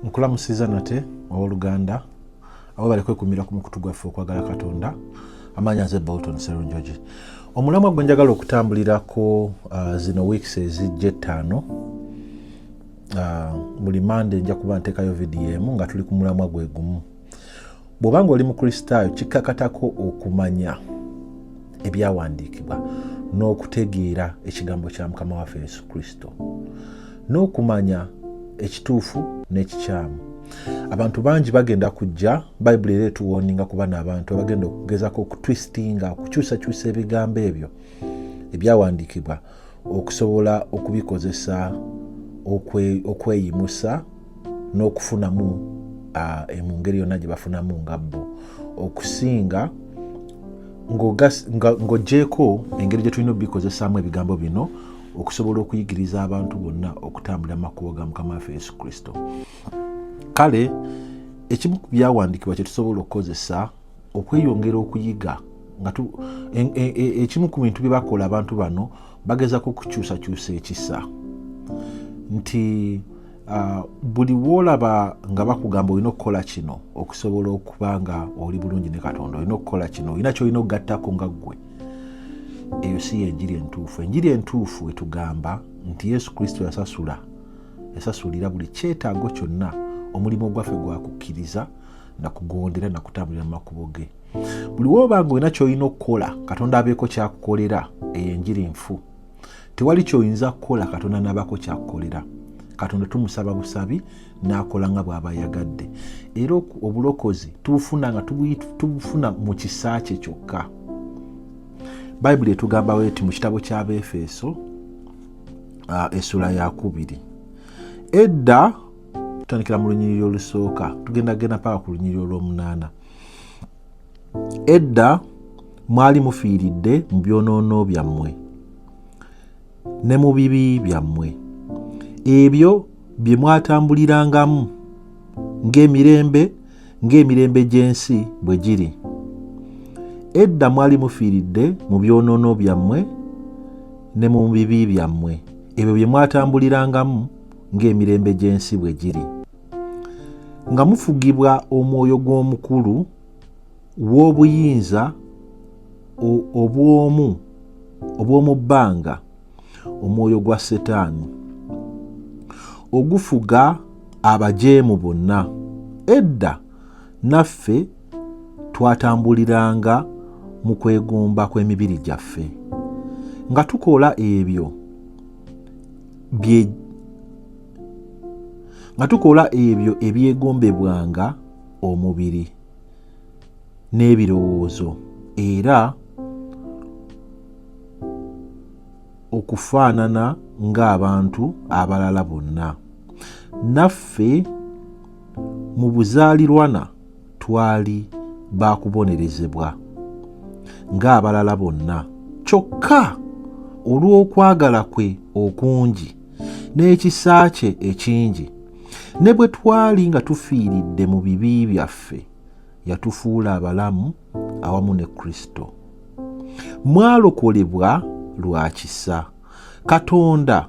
nkulamusiza nate owoluganda abo bali kwekumira ku mukutu gwaffe okwagala katonda amaanyi aze bolton serunjogi omulamwa gwe njagala okutambulirako uh, zino weeks ezijja ettaano uh, buli mande nja kuba ntekayo vidiyo emu nga tuli ku mulamwa gwe gumu bw'oba ng'oli mukristaayo kikkakatako okumanya ebyawandiikibwa n'okutegeera ekigambo kya mukama waffe yesu kristo n'okumanya ekituufu n'ekikyamu abantu bangi bagenda kujja bayibuli era etuwoninga ku bana abantu abagenda okugezako okutwistinga okukyusakyusa ebigambo ebyo ebyawandiikibwa okusobola okubikozesa okweyimusa n'okufunamu mu ngeri yonna gye bafunamu nga bo okusinga ng'ogyeko engeri gye tulina obikozesaamu ebigambo bino okusobola okuyigiriza abantu bonna okutambulira makubo ga mukama waffe yesu kristo kale ekimu ku byawandiikibwa kye tusobola okukozesa okweyongera okuyiga nga e, e, e, ekimu ku bintu bye bakola abantu bano bagezako okukyusakyusa ekisa nti uh, buli woolaba nga bakugamba olina okukola kino okusobola okuba nga oli bulungi ne katonda olina okukola kino olina kyolina okugattako nga ggwe eyo si yenjiri entuufu enjiri entuufu etugamba nti yesu kristo yasasula yasasulira buli kyetaago kyonna omulimu ogwaffe gwakukkiriza nakugondera nakutambulira mu makubo ge buli woba nga olina kyolina okukola katonda abeeko kyakukolera eyo enjiri nfu tewali kyoyinza kukola katonda nabako kyakukolera katonda tumusaba busabi nakola nga bwaba ayagadde era obulokozi tubufuna nga tubufuna mu kisa kye kyokka bayibuli etugamba weti mu kitabo ky'abaefeso uh, esula yakubiri edda tutandikira mu lunyiriri olusooka tugenda genda paka ku lunyiriri olw'omunaana edda mwali mufiiridde mu byonoono byammwe ne mu bibi byammwe ebyo bye mwatambulirangamu ng'emirembe ng'emirembe gy'ensi bwe giri edda mwali mufiiridde mu byonoono byammwe ne mu bibi byammwe ebyo bye mwatambulirangamu ng'emirembe gy'ensi bwe giri nga mufugibwa omwoyo gw'omukulu w'obuyinza obw'omu obw'omu bbanga omwoyo gwa setaani ogufuga abajeemu bonna edda naffe twatambuliranga mu kwegomba kw'emibiri gyaffe nga tukola ebyo bye nga tukola ebyo ebyegombebwanga omubiri n'ebirowoozo era okufaanana ng'abantu abalala bonna naffe mu buzaalirwana twali baakubonerezebwa ng'abalala bonna kyokka olw'okwagala kwe okungi n'ekisa kye ekingi ne bwe twali nga tufiiridde mu bibi byaffe yatufuula abalamu awamu ne kristo mwalokolebwa lwa kisa katonda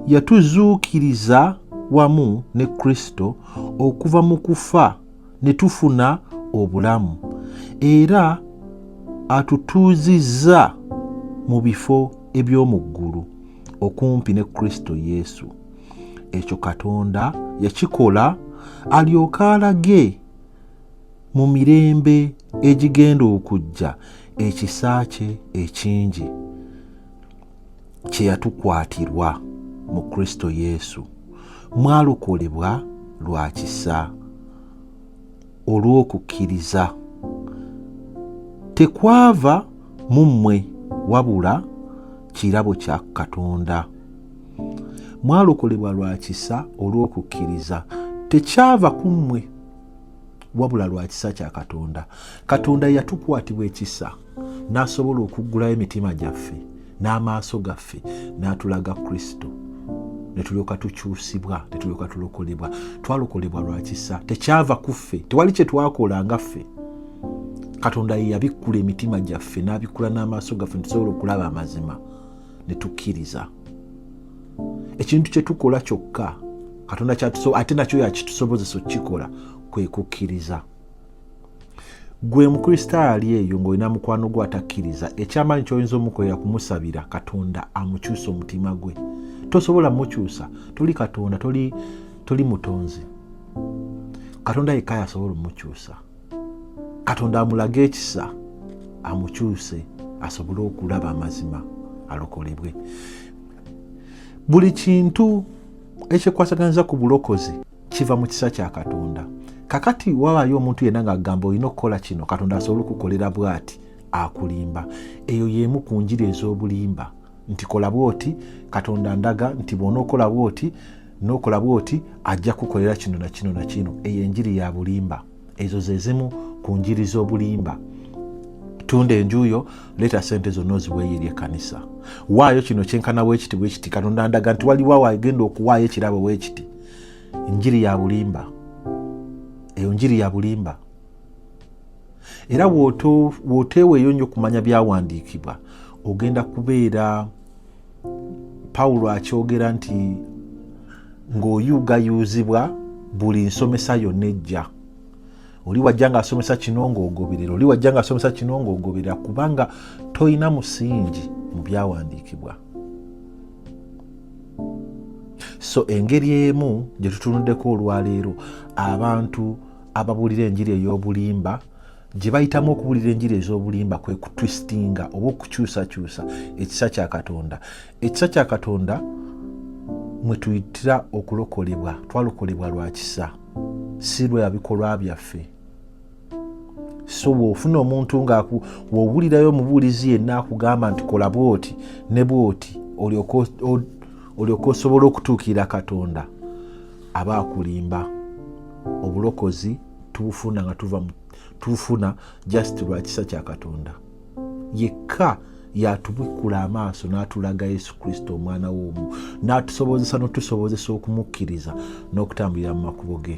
yatuzuukiriza wamu ne kristo okuva mu kufa ne tufuna obulamu era atutuuzizza mu bifo eby'omu ggulu okumpi ne kristo yesu ekyo katonda yakikola alyoke alage mu mirembe egigenda okujja ekisa kye ekingi kye yatukwatirwa mu kristo yesu mwalokolebwa lwa kisa olw'okukkiriza tekwava mu mmwe wabula kirabo kya katonda mwalokolebwa lwa kisa olw'okukkiriza tekyava ku mmwe wabula lwa kisa kya katonda katonda yatukwatibwa ekisa n'asobola okuggulayo emitima gyaffe n'amaaso gaffe n'atulaga kristo netulyoka tukyusibwa netulyoka tulokolebwa twalokolebwa lwa kisa tekyava ku ffe tewali kye twakola nga ffe katonda yeyabikkula emitima gyaffe n'abikkula n'amaaso gaffe netusobola okulaba amazima ne tukkiriza ekintu kye tukola kyokka katonda kyatuso ate nakyo yakitusobozesa okukikola kwe kukkiriza gwe mukristaayo ali eyo ng'olina mukwano gwe atakkiriza ekyamaanyi kyoyinza omukolera kumusabira katonda amukyusa omutima gwe tosobola mukyusa toli katonda toli, toli mutonzi katonda yekka yasobola omukyusa katonda amulage ekisa amukyuse asobole okulaba amazima alokolebwe buli kintu ekyekwasaganiza ku bulokozi kiva mu kisa kya katonda kakati wabayo omuntu yenna ngaagamba olina okukola kino katonda asobole okukolera bwati akulimba eyo yemu ku njiri ez'obulimba nti kola bwoti katonda ndaga nti bwona okola bwoti n'okola bw'oti ajja kukolera kino na kino na kino eyo enjiri ya bulimba ezo ze zimu ku njiri z'obulimba tunda enjuuyo leeta sente zonna oziweeyo eri ekkanisa waayo kino kyenkana weekiti bwekiti katonda ndaga nti waliwo awo agenda okuwaayo ekirabo weekiti njiri ya bulimba eyo njiri ya bulimba era wooteeweeyo nnyo okumanya byawandiikibwa ogenda kubeera pawulo akyogera nti ng'oyugayuuzibwa buli nsomesa yonna ejja oli wajja ngaasomesa kino ngaogoberera oli wajja ngaasomesa kino ngaogoberera kubanga tolina musingi mu byawandiikibwa so engeri emu gye tutunuddeko olwaleero abantu ababuulira enjiri ey'obulimba gye bayitamu okubuulira enjiri ez'obulimba kwe kutwisitinga oba okukyusakyusa ekisa kya katonda ekisa kya katonda mwe tuyitira okulokolebwa twalokolebwa lwa kisa si lwa bikolwa byaffe so bw'ofuna omuntu nga w'owulirayo omubuulizi yenna akugamba nti kola bwoti ne bwoti olyoka osobola okutuukirira katonda aba akulimba obulokozi tubufuna nga tuva tubufuna just lwa kisa kya katonda yekka yatubikkula amaaso n'atulaga yesu kristo omwana w'omu n'atusobozesa n'otusobozesa okumukkiriza n'okutambulira mu makubo ge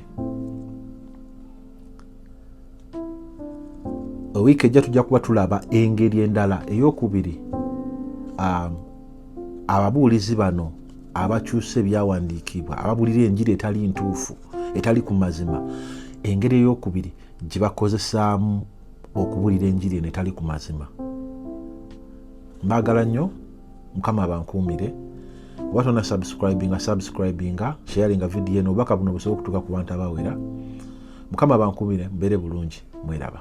wiiki ejja tujja kuba tulaba engeri endala eyokubiri um, ababuulizi bano abakyusa ebyawandiikibwa ababulira enjiri etali ntuufu etali ku mazima engeri eyokubiri gye bakozesaamu okubulira enjiri eno etali ku mazima mbaagala nnyo mukama abankuumire oba tona subscribinga subscribinga sharinga vidiyo eno obubaka buno busobola okutuuka ku bantu abawera mukama abankuumire mbeere bulungi mweraba